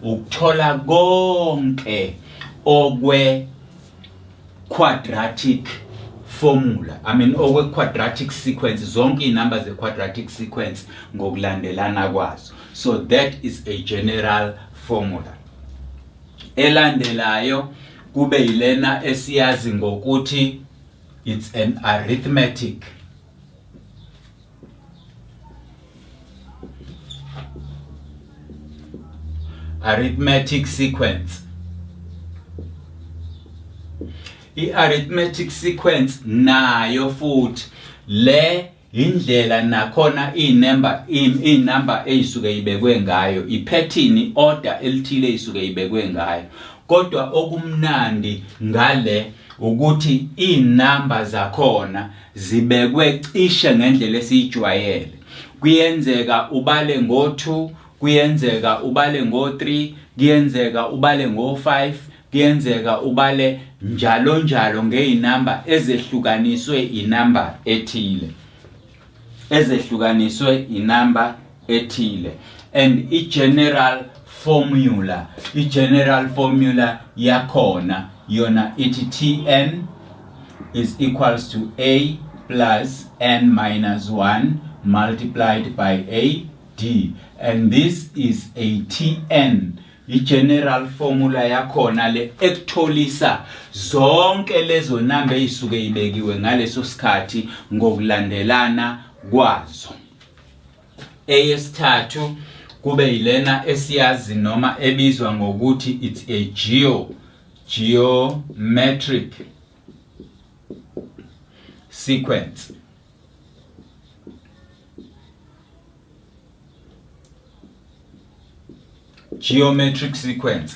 ukuthola konke okwe quadratic formula i mean okwe quadratic sequence zonke inamba ze quadratic sequence ngokulandelana kwazo so that is a general formula elandelayo kube yilena esiyazi ngokuthi it's an arithmetic arithmetic sequence i-arithmetic sequence nayo futhi le indlela nakhona inumber inumber eyisuke ibekwe ngayo iphethini order elithile isuke ibekwe ngayo kodwa okumnandi ngale ukuthi inumber zakhona zibekwe cishe ngendlela esiyijwayele kuyenzeka ubale ngo-2 kuyenzeka ubale ngo-3 kuyenzeka ubale ngo-5 kuyenzeka ubale njalo njalo ngey'namba ezehlukaniswe inamba ethile ezehlukaniswe inamba ethile and i general formula i general formula yakhona yona ithi tn is equals to a plus n minus 1 multiplied by a d and this is a tn i general formula yakhona le ekutholisa zonke lezo number ezisuke ibekiwe ngaleso sikhathi ngokulandelana kwazo Eyesithathu kube yilena esiyazi noma ebizwa ngokuthi it's a geo geometric sequence geometric sequence